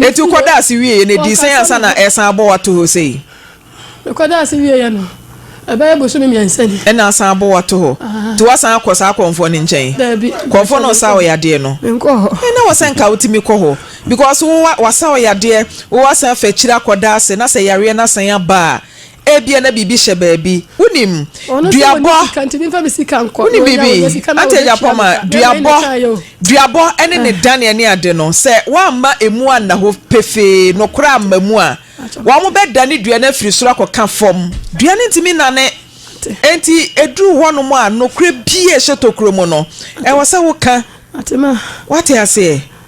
Speaker 3: Eti wokɔ da ase wieɛ no
Speaker 2: ɛdii sɛn ansa na ɛresan abɔ wo ato hɔ sei? Mekɔ da
Speaker 3: ase wieɛ no ɛbɛyɛ bosome mmiɛnsa ni. Ɛna asan abɔ wo ato
Speaker 2: hɔ? Nti woasan akɔ saa kɔmfoɔ no nkyɛn? Daabi. Kɔmfoɔ no ɔsaa wo yadeɛ no? Menkɔɔ hɔ. Ɛɛ na wɔ sɛ
Speaker 3: nka wotumi
Speaker 2: kɔ hɔ because wo wa wasa wo yadeɛ, wo asan afa akyire akɔ da ase na sɛ yareɛ no asan aba a, Ebia na biribi hyɛ baabi. Wonim, duabɔ,
Speaker 3: wonim biribi, Auntie
Speaker 2: Agyapong ma, duabɔ, duabɔ ne ne daneɛ ne ade no, sɛ wɔamma emu anna hɔ pefee, nokorɛ amma mu a, wɔbɛdane dua no afiri soro akɔka fam. Dua no ntumi nnane. Enti ɛduru hɔnom a, nokorɛ bi a ɛhyɛ tokuro mu no, ɛwɔ sɛ woka. Woate
Speaker 3: aseɛ?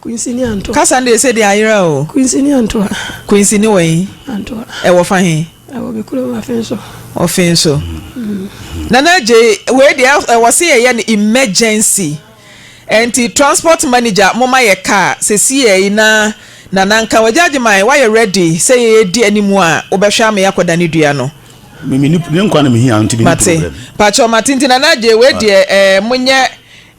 Speaker 2: Quincy ne Antoa.
Speaker 3: Kasa no deɛ ɛsɛ deɛ ayera
Speaker 2: o. Quincy ne Antoa.
Speaker 3: Quincy ne wai?
Speaker 2: Antoa. Ɛwɔ fa
Speaker 3: he?
Speaker 2: Ɛwɔ me kurom Afenso.
Speaker 3: Ofenso.
Speaker 2: Nana Adjei, wei deɛ ɛwɔ se yɛyɛ no emergency. Ɛnti transport manager momma yɛ car sesiei na Nana nka ho. Agya Agyeman, woayɛ ready sɛ yɛdi animu a wobɛhwɛ ama yɛakɔ Danedua no? Me, me, ne nkwa
Speaker 4: na mehia nti menni problem. Mate. Mpakyɛw mate
Speaker 2: nti Nana Adjei wei deɛ ɛɛ monyɛ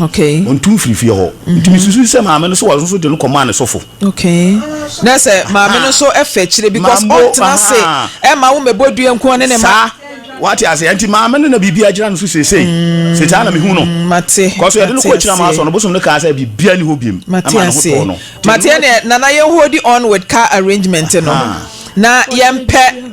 Speaker 4: Okay. Ɔntu mfiri
Speaker 2: fie hɔ.
Speaker 4: Mm-hmm. Nti mesusu sɛ maame no so wɔn nso de no kɔmaa ne sɔfo. Okay.
Speaker 2: Na sɛ maame no nso ɛfɛ akyire because ɔntena se ɛma wo mɛbɔ dua nko ne ne ma. Saa wate ase nti
Speaker 4: maame no na biribi agyina no so seesei. Mm. Sɛ saa na mehu no. Mm, mate. Kɔso yɛde no
Speaker 2: kɔ akyina maa
Speaker 4: sɔ no bosom no kaa sɛ biribia ni hɔ biem. Mate ase.
Speaker 2: Mate ɛne nana yɛn hold on with car arrangement no. Na yɛmpɛ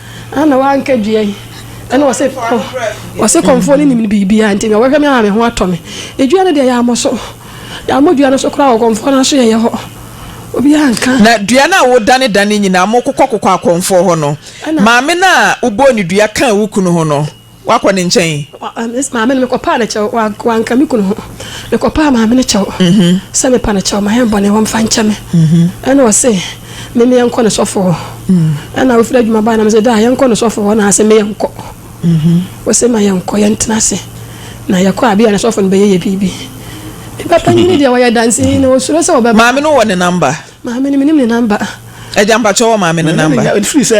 Speaker 3: Ana wanka dua yi ɛna ɔse ɔse kɔnfoɔ no nim biribiara nti mewɔhwɛ me ama me ho atɔ me edua no deɛ yɛamɔ so yɛamɔ dua no so koraa wɔ kɔnfoɔ no aso yɛyɛ hɔ obiara nka. Na dua no a
Speaker 2: wodane dane nyinaa mokokɔ kokɔ akɔnfoɔ hɔ no maame no a wobɔɔ ne dua kaa wo kunu ho no Woakɔ ne nkyɛn? Maame no, mekɔpaa
Speaker 3: no kyɛw. Wanka me kunu ho. Mekɔpaa maame no kyɛw sɛ mepa no kyɛw, mayɛ bɔne, wɔmfa nkyɛ me. Ɛnna ɔse me me yɛnkɔ ne sɔfo hɔ. Ɛnna ofiri adwuma bae na mese, Daa, yɛnkɔ ne sɔfo hɔ. Na ɔse me yɛnkɔ. Ɔse ma yɛnkɔ, yɛntena ase. Na yɛkɔ a, bi a ne sɔfo no bɛyɛ yɛ biribi. Me ba panyin no deɛ, ɔyɛ danseni na osuro sɛ ɔbɛba. Maame no wɔ ne namba?
Speaker 2: Maame no, menim ne
Speaker 3: namba. Agya, mpakyɛ wɔ
Speaker 2: maame no namba? Ɛfiri sɛ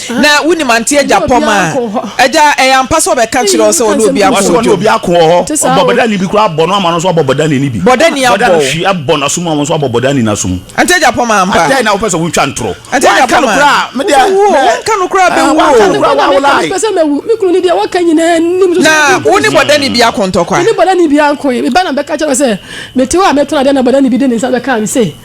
Speaker 2: Na wunim Auntie Agyapong a? Agya, ɛyɛ ampa sɛ ɔbɛka kyerɛɛ wo sɛ ɔne obi ako wɔ dwom? Ɔse ɔne obi ako wɔ hɔ.
Speaker 4: Ɔbɔ Bɔdani bi koraa bɔ no ama no nso abɔ Bɔdani no bi. Bɔdani abɔ wo? Bɔdani hwi
Speaker 2: abɔ n'aso mu ama wo nso
Speaker 4: abɔ Bɔdani no aso mu. Auntie Agyapong ma ampa?
Speaker 2: Adɛn na wopɛ sɛ wotwa ntorɔ?
Speaker 4: Auntie Agyapong ma. Wanka no koraa
Speaker 2: a, me deɛ. Wobɛwu o, wanka
Speaker 4: no koraa a, bɛwu
Speaker 2: o. Wanka no koraa a, wawo lie. Mepɛ sɛ mawu. Me kunu
Speaker 3: no deɛ waka nyinaa nnim so. Na wo ne Bɔdani bi
Speaker 2: ako ntɔkwa? Me ne Bɔdani bi anko.
Speaker 3: Me ba na mebɛka kyerɛ no sɛ mete hɔ a mɛtɔn adeɛ na Bɔdani bi de ne nsa bɛkaa me sei.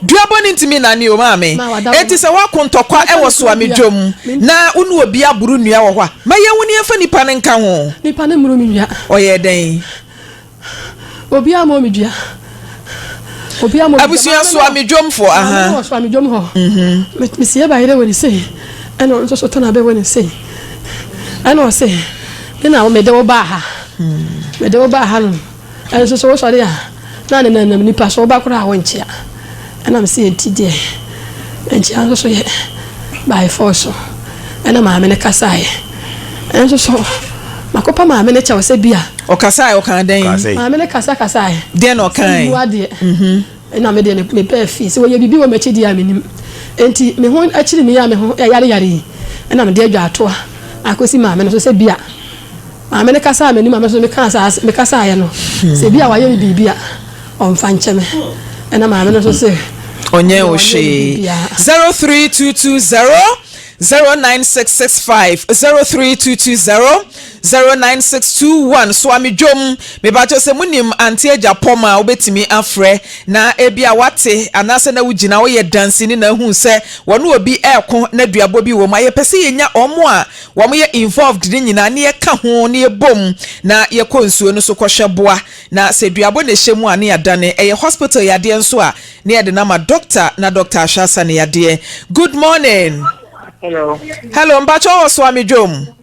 Speaker 2: Dua bɔne nti me nane o maa me Enti sɛ woako ntɔkwa wɔ soa me dwom Na wo ne obi aboro nnua wɔ hɔ a Ma yɛnwo ne yɛmfa nipa no nka ho Nipa no mmoro me nnua
Speaker 3: Ɔyɛɛ dɛn? Obiara mmɔɔ me dua Obiara mmɔɔ me dua Abusua soa me dwom
Speaker 2: foɔ Maame no wɔ soa me dwom hɔ
Speaker 3: Me sie ba yere wɔ ne sei Ɛna ɔno nso so tana bɛ wɔ ne sei Ɛna ɔse Me na mede wo baa ha Mede wo baa ha nom Nso sɛ wosɔre a, na ne nanam nipa so woba koraa a wonkyea. Ɛnam sɛ nti deɛ nkyea nso so yɛ by force so. Ɛna maame no kasaeɛ. Nso so makɔpa maame no kyɛw sɛ bi a. Ɔkasaeɛ, ɔkaa
Speaker 2: dɛn? Maame no kasakasaeɛ.
Speaker 3: Deɛn na ɔkaeɛ? Sɛ mmu
Speaker 2: adeɛ.
Speaker 3: Ɛnna me deɛ, mepɛ afie. Sɛ wɔyɛ biribi wɔ m'akyi deɛ a, mennim. Enti me ho kyere me yi a me ho yareyare yi, ɛnna mede adwaa toa akɔsi maame no so sɛ bi a Maame no kasaa m'anim a me nso mekaa saa asɛm, mekasaeɛ no, sɛ bi a wayɛ me biribi a, ɔmfa nkyɛ me. Ɛnna maame no nso se, Ɔnyɛɛ wo hwee. Zero three two
Speaker 2: two zero zero nine six six five zero three two two zero Zero nine six two one soa me dwom mepakyɛw sɛ mo nim Auntie Agyapong a wobɛtumi afrɛ na ebia wate anaasɛ na wogyina hɔ yɛ danseni na ahuu sɛ wɔne obi reko na duabɔ bi wɔ mu a yɛpɛ sɛ yɛnya wɔn a wɔn yɛ involved no nyinaa na yɛka ho na yɛbom na yɛkɔ nsuo no so kɔhwɛ boa na sɛ duabɔ na ɛhyɛ mu a na yɛadane ɛyɛ hospital yadeɛ nso a na yɛde no ama doctor na doctor ahwɛ asa ne yadeɛ good morning Hello. Hello, mpacho wo soa me dwom.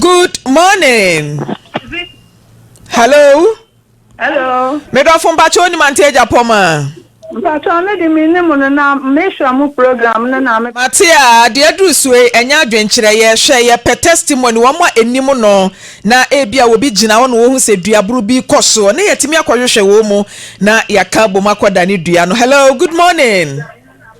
Speaker 2: good morning hello hello
Speaker 5: medɔfo mpakyɛ
Speaker 2: onim ante agya pɔ ma mpakyɛ me
Speaker 5: de menim no na mehwɛ mo program no na mate a deɛ aduru
Speaker 2: soe ɛnyɛ adwenkyerɛ yɛhwɛ yɛpɛ testimony wɔn a ɛnim no na ebi a wɔbi gyina hɔ na wɔhu sɛ duaboro bi kɔ soɔ ne yɛtumi akɔhwehwɛ wɔn mu na yɛaka bom akɔda ne dua no hello good morning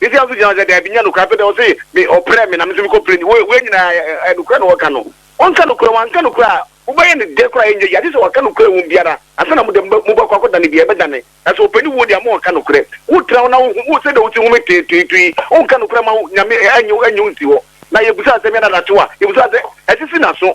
Speaker 6: Messiah nso gyinaa hɔ sɛ, Dabi, nyɛ nokorɛ. Afei deɛ ɔse me, ɔprɛɛ me na me nso mekɔ prɛɛ ni. Wei nyinaa ɛ, ɛ, nokorɛ na ɔreka no. Ɔnka nokorɛ, wanka nokorɛ a, mobɛyɛ no dɛ koraa a ɛnyɛ yie. Agye sɛ waka nokorɛ wom biara ansa na mo deɛ mobɛ, mobɛkɔ akɔdane biara, ɛbɛdane. Na sɛ ɔpɛ ne wuo deɛ ama wanka nokorɛ. Wotra hɔ na wohu, wo, sɛdeɛ wote home tee, tee, to yi, wonka nokorɛ ma wo, Nyame, ɛ, ɛnyɛ, ɛnyɛ wo nsi hɔ. Na yɛbisaa sɛ, Meɛna daakye wɔ a? Yɛbisaa sɛ, Ɛsisi n'aso.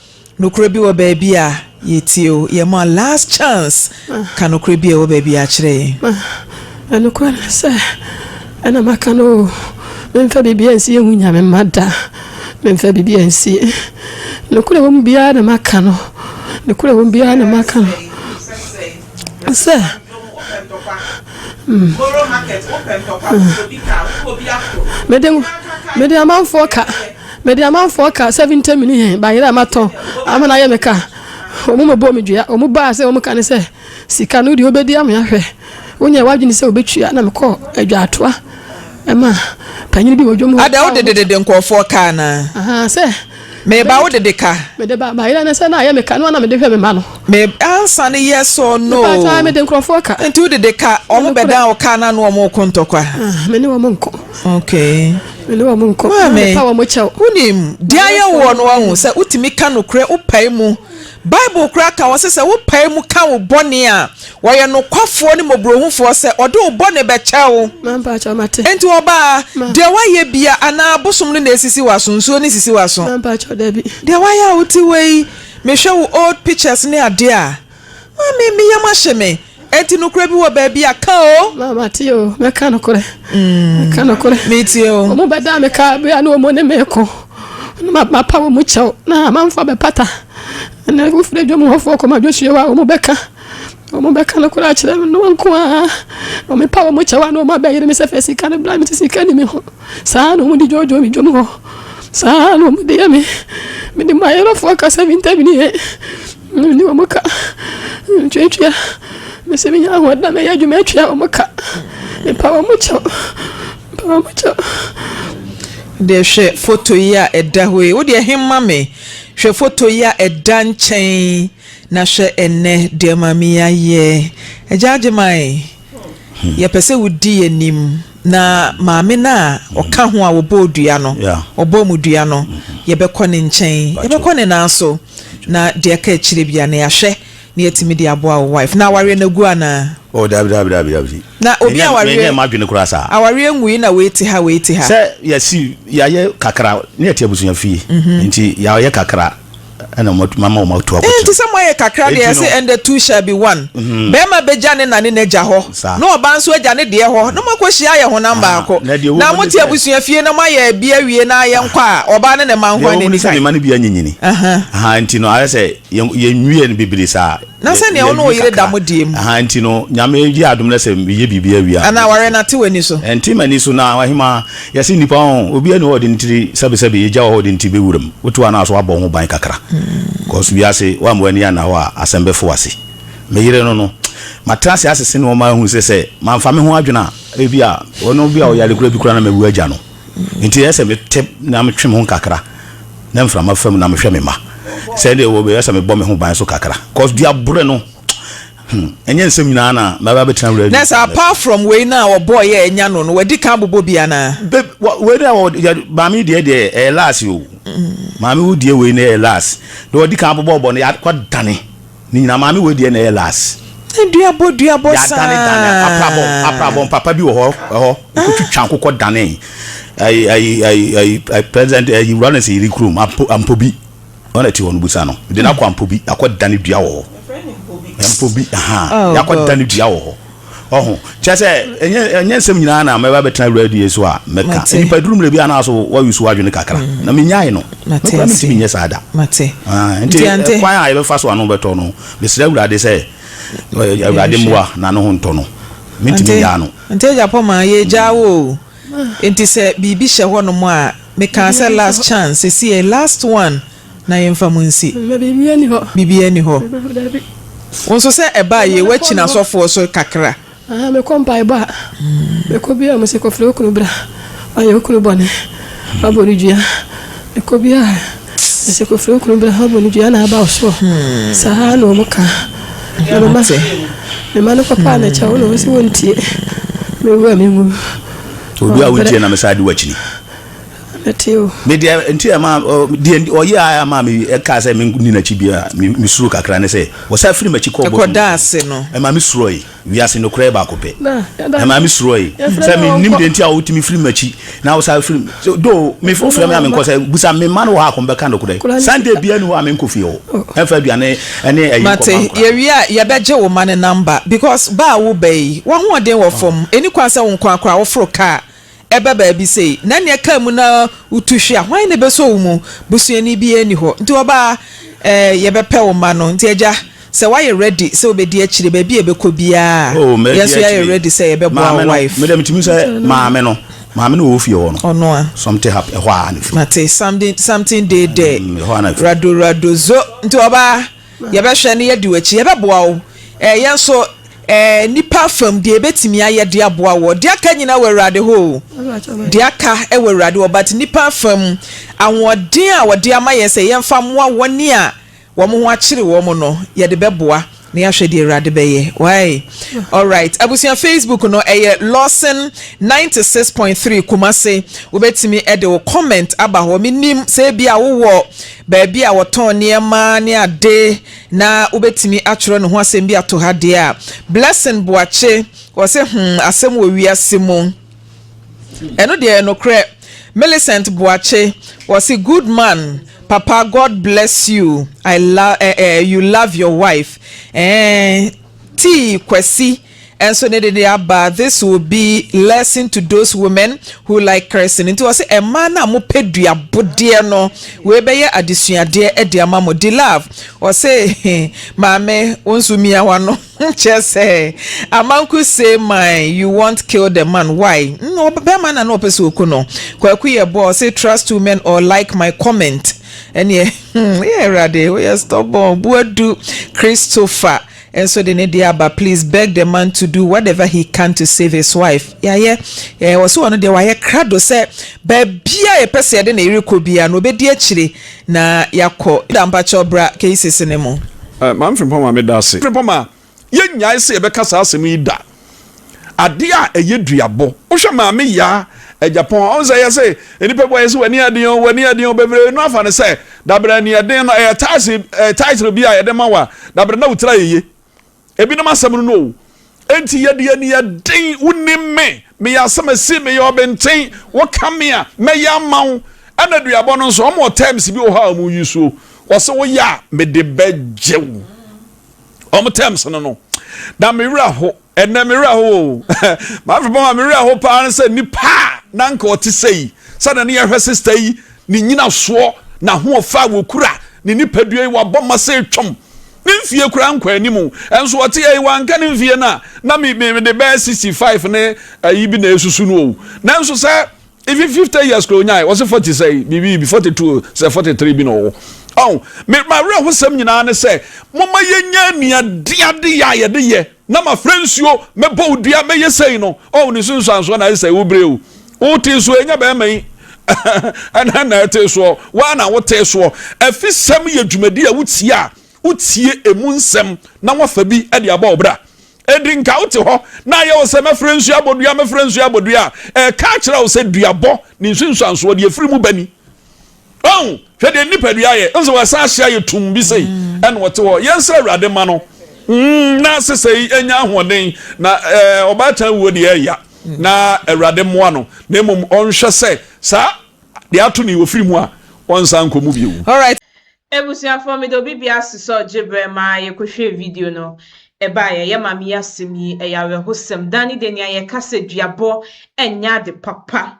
Speaker 2: Nokorɛ bi wɔ baabi a yɛtie o. Yɛma last chance ka nokorɛ bi a ɛwɔ baabi a kyerɛ yɛn. Nokorɛ
Speaker 3: ne sɛ ɛna maka no o. Memfa biribiara nsie nhu Nyame mma da. Memfa biribiara nsie. Nokorɛ ɛwɔ mu biara na maka no. Nokorɛ ɛwɔ mu biara na maka no. sɛ
Speaker 1: mede mede
Speaker 3: amanfoɔ ka mede amanfoɔ ka seventy million bayerɛ a matɔ ama no ayɛ me ka ɔmu mɛbɔ me dua ɔmu baa sɛ ɔmu ka ne sɛ sika no deɛ wobɛdi ama ahwɛ wonyɛ wadwene sɛ wobɛtua na mekɔ adwaatoa ɛma panyini bi wɔ dwom hɔ ada wodededede nkurɔfoɔ
Speaker 2: kaa naa sɛ
Speaker 3: Mereba wo de de
Speaker 2: ka. Mede ba bayerɛ ne sɛ
Speaker 3: na ayɛ me ka no a na mede hwɛ me mma no. Me answer
Speaker 2: no yes or no. Me pakyɛ ae mede nkurɔfoɔ ka.
Speaker 3: Nti wo de de ka wɔn
Speaker 2: bɛdan wo car no ano wɔn reko ntɔkwa. Ah me ne wɔn nko.
Speaker 3: Okay.
Speaker 2: Me ne wɔn nko.
Speaker 3: Maame. Na me pa wɔn kyɛw. Wonim deɛ ayɛ
Speaker 2: woɔ no wahu sɛ wotumi ka nokorɛ wo pae mu. Bible koraa ka hɔ sɛ sɛ wopae mu ka wo bɔne a, wɔyɛ nokwafoɔ ne mmɔborɔhufoɔ sɛ ɔde wo bɔne bɛkyɛ wo. Enti
Speaker 3: ɔbaa,
Speaker 2: deɛ woayɛ bia, anaa abosom no na ɛsisi w'aso? Nsuo no nsisi w'aso. Deɛ
Speaker 3: woayɛ a wote
Speaker 2: wei, mehwɛ wo old pictures ne adeɛ a, maame, me yam ahye me. Enti nokorɛ bi wɔ baabi a, ka o. Ma, mate o, mɛka
Speaker 3: nokorɛ. Mm. Mɛka nokorɛ. Metie o. Wɔn bɛdaa
Speaker 2: me ka bere
Speaker 3: a na wɔn ne me ko. Na mapa wɔn kyɛw na mamfa bɛpata. Ɛnna wofiri adwam hɔfoɔ kɔma Joshua a wɔn bɛka wɔn bɛka no koraa kyerɛ me no nko ara wɔn pa wɔn kyɛw a na wɔn abɛyere me sɛ fɛ sika no bla me te sika ni me ho saa na wɔn de dwoodwoo me dwom hɔ saa na wɔn de yɛ me me de mayerɛfoɔ kasa bi ntɛm ni yɛ Me ne wɔn ka, metuatua, mese menya ahoɔden mɛyɛ adwuma atua wɔn ka, mepa wɔn kyɛw, mepa wɔn kyɛw.
Speaker 2: deɛ hwɛ foto yi a ɛda hɔ yi wodeɛ he ma me hwɛ foto yi a ɛda nkyɛn na hwɛ ɛnɛ deɛ maame yi ayɛ agya agye mae Yɛpɛ sɛ wodi yɛn anim. Na maame no a ɔka ho a wɔbɔɔ dua no, wɔbɔɔ mu dua no, yɛbɛkɔ ne nkyɛn, yɛbɛkɔ ne nan so, na deɛ ɛka akyire biara no, yɛahwɛ na yɛatumi de aboa wo wife. Na awareɛ no agu anaa? Oh, daabi, daabi, daabi,
Speaker 4: daabi. Na obi Menyɛ- awareɛ-
Speaker 2: menyɛ m'adwene koraa saa.
Speaker 4: Awareɛ nwui na wei te
Speaker 2: ha, wei te ha. Sɛ yɛasi,
Speaker 4: yɛayɛ kakra, na yɛte abusua fie, nti yɛayɛ kakra. ɛna mama wɔn atu akɔtena. Enti sɛ moayɛ kakra deɛ,
Speaker 2: ɛse and the two shall be one. Barima bɛgya ne na ne n'agya hɔ, na ɔbaa nso agya ne deɛ hɔ, na moakɔhyia ayɛ honam baako. Na mote abusua fie na moayɛ bi awie na yɛnkɔ a, ɔbaa ne ne mma nko ara na ɛdi kan. Deɛ ɛwɔ mu ne sɛ ne mma no bi anyinyini.
Speaker 4: Aha, nti no ayɛ sɛ yɛnwiee no bebree saa. Na sɛ nea wo ne wo yere
Speaker 2: da mo deɛ mu. Ɛha nti no, Nyame
Speaker 4: yɛ adom na sɛ meyɛ biribi awie a. Anaa awareɛ no ate w'ani
Speaker 2: so. Ɛnte m'ani so na
Speaker 4: ɔhemaa, yɛse nnipa ho, obiara nni hɔ a ɔde ne tiri, sɛbesɛbe, egya wɔ hɔ a ɔde ne tiri bɛwura mu. Wote hɔ a na so woabɔ wo ho ban kakra? Cos wiase, woamma w'ani anna hɔ a, asɛm bɛfo w'ase. Me yere no no, matena ase asese nnoɔma ahu sɛ sɛ mamfa me ho adwene a, ebia ɔno bi a ɔyare koraa bi koraa na mawu agya no. Enti ɛyɛ sɛ mete na metwe me ho kakra na mframa fa mu na mehwɛ me mma. Sɛ ɛdeɛ wɔ ɛyɛ sɛ mebɔ me ho ban nso kakra cos dua bore no hmm ɛnyɛ nsɛm nyinaa na mɛba bɛtena wura Nurse apart from wei
Speaker 2: no a ɔbɔɔ yɛ anya no no wadi kan abobɔ bi anaa? Babe wa wei no a
Speaker 4: ɔde maame deɛ deɛ ɛyɛ last o maame wo deɛ wei no ɛyɛ last deɛ ɔdi kan abobɔ ɔbɔ no yɛ akɔ dane. Ne nyinaa maame wei deɛ na ɛyɛ las. Ne duabɔ duabɔ
Speaker 2: saa. Yɛadane dane aprabɔ
Speaker 4: aprabɔ mpapa bi wɔ hɔ ɛhɔ okotwitwa nkokɔ dane ɛyi ɛyi ɛyi ɛyi president ɛyi wura ne sɛ yiri kurom ampo ampobi wɔn ɛte hɔ no busa no de n'akɔ ampobi akɔ dane dua wɔ hɔ mpobi ahan yakɔ dane dua wɔ hɔ. Ɔho. Kyerɛ sɛ, ɛnyɛ, ɛnyɛ nsɛm nyinaa na mɛba bɛtena Awurade die so a mɛka. Mate. Nnipa duru mmerɛ bi a na so wɔayusu w'adwene kakra, mm. na menyae no. Mate Mekura ase. mentumi nyɛ saa da. Mate. Ah, nti,
Speaker 2: nti kwan
Speaker 4: a yɛbɛfa so ano bɛtɔ no, mesrɛ Awurade sɛ, Awurade mmoa na ne ho ntɔ no. Mentumi nyaa no. Nti agya pɔ ma
Speaker 2: yɛgyaa wo o. Nti sɛ biribi hyɛ hɔ nom a, mekaa sɛ last chance, sɛsi yɛ last one. na yɛmfa mu nsi. Na biribiara nni hɔ. Biribiara nni hɔ. Dabi. Wo nso sɛ ɛbaa yie, woakyi n'asɔfoɔ so kakra. Ahaa, mekɔ mpaebɔ
Speaker 3: a, mekɔ biara wɔn se kɔfrɛ wo kunu bra, wayɛ wo kunu bɔne, wabɔ no dua. Mekɔ biara wɔn se kɔfrɛ wo kunu bra, wabɔ no dua na aba wo soɔ. Saa ara na wɔn ka. Na mema, mema no kɔpaa no kyɛw na wɔn se wɔntie. Mewu a menwu. Odu a
Speaker 4: wontie na mesan de wo akyini. Mete
Speaker 3: o. Me deɛ nti
Speaker 4: a ɛma ɔ deɛ ɔyɛ a ɛma me ɛkaa sɛ me nni n'akyi bi a me me suro kakra ne sɛ ɔsan firi m'akyi kɔɔ bɔtɔ Ɛkɔda ase no. Ɛma me
Speaker 2: surɔe
Speaker 4: wiase nokorɛ yɛ baako pɛ. Na ɛda Ɛma me surɔe ɛfrɛ sɛ no me nim ɔnkɔ. deɛ nti a wotumi firi m'akyi na wosan firi so though me Ɛfrɛ wofrɛ no me a me nkɔ ɔba. sɛ busa me mma no wɔ hɔ a kɔm bɛka nokorɛ Akwadaa no Sunday biara nni hɔ a me nkɔ fie hɔ Oh. ɛmfa aduane ɛne ɛyi nkɔma Mate, nkwadaa no. yɛwie a
Speaker 2: yɛbɛgye wo mma no number because ba a woba yi, w'ahoɔden wɔ fam, ɛnni kwan sɛ wo nko ara koraa woforo car. Ɛba baabi sei na nea ɛkaa mu na wotu hwe a, hwan na ɛbɛsɔ wo mu? Busuani biara nni hɔ. Nti ɔbaa, eh, yɛbɛpɛ wo mma no. Nti agya, sɛ woayɛ ready sɛ wobɛdi akyire baabi a ɛbɛkɔ biara a, Oh, mɛdi yɛn nso yɛayɛ akyire. ready sɛ yɛbɛboa Maame wo no, wife. mede metumi sɛ
Speaker 4: maame no. Maame no wɔ hɔ fie hɔ no. Ɔno a. Something happened.
Speaker 2: Ɛhɔ a na
Speaker 4: ɛfiri. Mate, something,
Speaker 2: something dey there. Mm, ɛhɔ a na ɛfiri. Rado, rado, zo. Nti ɔbaa. Yɛbɛhwɛ na yɛadi w'akyi. Yɛbɛboa wo. Ɛɛ, yɛn nso, ɛɛ, nnipa fam, deɛ yɛbɛtumi ayɛ de aboa woɔ. Deɛ aka nyinaa wɔ Awurade hɔ o. Deɛ aka wɔ Awurade hɔ, but nnipa fam, ahoɔden a wɔde ama yɛn sɛ yɛmfa mmoa wɔn a wɔn ho akyere wɔn no, yɛde bɛboa, na yɛahwɛ deɛ Awurade bɛyɛ. Wai? Alright. Abusua Facebook no, ɛyɛ Lawson ninety six point three Kumasi. Wobɛtumi de wo comment aba hɔ. Mennim sɛ ebia wowɔ baabi a wɔtɔn nneɛma ne ade na wobɛtumi atwerɛ ne ho asɛm bi ato ha deɛ a, Blessing Boakye, ɔse hmm, asɛm wɔ wiase mu. Ɛno deɛ ɛyɛ nokorɛ. Millicent Boakye, ɔse good man, papa God bless you, I love, eh, eh, you love your wife. Eh, tii Kwasi. Nso ne de de aba this will be lesson to those women who like cursing nti ɔse mmaa no a mo pɛ dua bodeɛ no wei bɛyɛ adesuadeɛ de ama mo di love ɔse maame wo nso mia w'ano kyerɛ sɛ amanku say my you want kill the man why no bɛma na na ɔpɛ sɛ oku no kwaku yɛ boɔ ɔse trust two men or like my comment ɛneɛ hmm yɛ awurade woyɛ stubborn buadu Christopher nso de ne deɛ aba please beg the man to do whatever he can to save his wife yayɛ eh ɔse ɔno deɛ wayɛ krado sɛ baabia yɛpɛ sɛ yɛde ne yere kɔ bia no ɔbɛdi akyire na yakɔ da mpakyɛw bra cases no mu. Maame Frimpong ma me
Speaker 7: da ase. Frimpong ma yɛ nyae sɛ yɛbɛka saa asɛm yi da. Adeɛ a ɛyɛ duabɔ. Wohwɛ maame yaa agyapɔn a, ɔhu sɛ yɛse nnipa bi wɔyɛ sɛ w'ani aden o, w'ani aden o, bebree no afa no sɛ dabere ani ɛden no ɛyɛ title title bi a yɛde ma wo a dabere na wotiri ayɛ yie. Ebinom asɛm no no o. Enti yɛde ani ɛden, wonim me, meyɛ asɛmasi, meyɛ ɔbenten, woka me a, mɛyɛ ama wo. Ɛna aduabɔ no nso, wɔwɔ terms bi wɔ hɔ a wɔyi so. Wɔse woyɛ a, mede bɛgye wo. wɔn terms no no na me werɛ ho ɛnna me werɛ ho o maame fipɔn a me werɛ ho paa no sɛ nipa a na nka ɔte sɛ yi sɛ na ne yɛhwɛ sista yi ne nyina soɔ na ho ɔfa a wɔkura ne nipadua yi wabɔ ma sɛ twam ne mfie kura nkɔ anim ɛnso ɔte yɛ yi wanka ne mfie no a na me me de bɛyɛ sixty five ne ayi bi na esusu no o nanso sɛ. Even fifty years kura onyae wɔsi forty sɛ biribi bi forty two sɛ forty three bi na ɔwɔ ɔn me ma werɛ ho sɛm nyinaa ne sɛ mo ma yɛ nya nua de ade yɛ a yɛde yɛ na ma fira nsuo mɛ bɔ odua mɛ yɛ sɛyi no ɔn ne su nsuansoɔ na ayɛ sɛ wo bere o wo te so ɛnyɛ bɛrima yi ɛna na ɛte soɔ waa na wo te soɔ ɛfi sɛm yɛ dwumadi a wotie a wotie emu nsɛm na wafa bi ɛde abɔ ɔbra Edi nka wote hɔ na ayɛ wo sɛ mɛfrɛ nsu abodua, mɛfrɛ nsu abodua a, ɛreka akyerɛ wo sɛ duabɔ ne nsunsuansoɔ deɛ ɛfiri mu ba ni. Ɔn, hwɛ deɛ nipadua yɛ, nso wɔsan ahye ayɛ tum bi sei, ɛna ɔte hɔ. Yɛnsrɛ Awurade mma no mm, na sesei ɛnya ahoɔden, na ɛɛ ɔbaatan wuo deɛ ɛya, na Awurade mmoa no, na mmom ɔnhwɛ sɛ saa deɛ ato no yi ɔfiri mu a, ɔnsan nkɔ mu bio.
Speaker 1: Ebusuafoɔ mede obi bi asosɔ gye
Speaker 7: berɛ
Speaker 1: maa yɛkɔhwɛɛ video no ɛbaeɛ yɛ maame yi asɛm yi ɛyɛ awerɛhosɛm daani deɛ nea yɛka sɛ duabɔ ɛnyɛ ade papa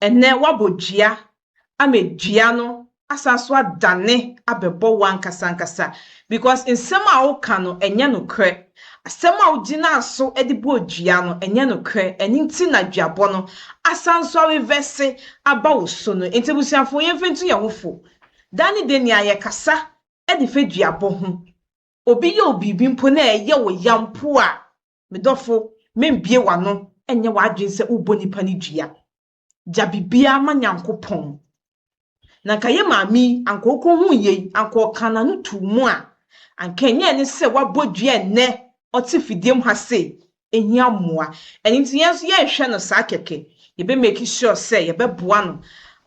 Speaker 1: ɛnɛ wabɔ dua ama dua no asan so adane abɛbɔ wo ankasa ankasa because nsɛm a woka no ɛnyɛ nokorɛ asɛm a wogyinaa so de bɔɔ dua no ɛnyɛ nokorɛ ɛno nti na duabɔ no asan so arevɛse aba wo so no nti abusuafoɔ yɛmfa ntu yɛn ho fo Da ne da nea yɛkasa de fa duabɔ ho, obi yɛ wo biribi mpo na ɛyɛ wo ya mpo a, me dɔfo, membue w'ano nyɛ w'adwene sɛ wobɔ nipa no dua. Gya biribiara ma Nyankopɔn. Na anka yɛn maame yi, anka okohuu yei, anka ɔkaa n'ano too mu a, anka ɛnyɛ ne sɛ wabɔ dua nnɛ ɔte fidiem ha sei, hia mmoa. Ɛno nti yɛn nso yɛnhwɛ no saa kɛkɛ. Yɛbɛ make sure sɛ yɛbɛboa no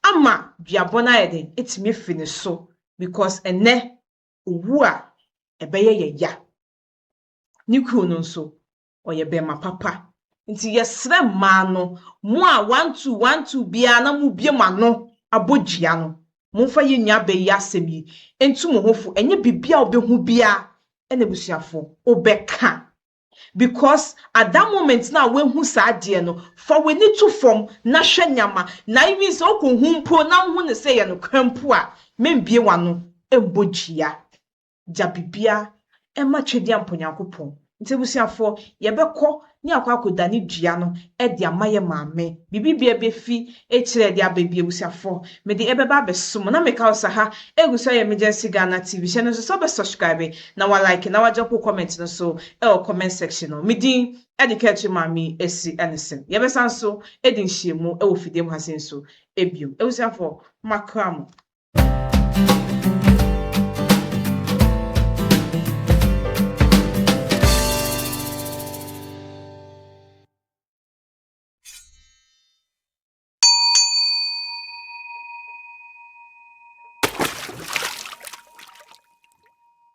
Speaker 1: ama duabɔ no ayɛ dɛn? Atumi afi ne so because ɛnnɛ owu a ɛbɛyɛ yɛ ya. Ne kunu no nso ɔyɛ bɛrima papa. Nti yɛsrɛ mmaa no, mo a one two one two biara na mobue mo ano abɔ dua no, momfa yɛn nuabaa yi asɛm yi ntu mo ho fo. Ɛnyɛ biribi a wobɛhu biara na abusuafoɔ wobɛka. because at that moment na wahu saa adeɛ no fa w'ani to fam na hwɛ nyama na even sɛ ɔkɔ hu mpo na wohu no sɛ yɛ nokorɛ mpo a membie w'ano mbɔ dua gya bibia ɛma twɛdi ampa Onyankopɔn nti abusuafoɔ yɛbɛkɔ ne akɔ akɔ dane dua no de ama yɛ maame biribi bia bɛfi akyire de aba bi abusuafoɔ mede ɛbɛba abɛso mo na meka wo sɛ ha ɛgu so emergency Ghana TV hyɛ no nso sɛ wobɛ subscribe na wa like na wa drop wo comment no so ɛwɔ comment section no me din ɛde Kɛtri Maame Asi Ɛnison yɛ bɛsan so ɛdi nhyiamu ɛwɔ fidie mu ha se nso ɛbiom ɛwusiafɔ ma kra mo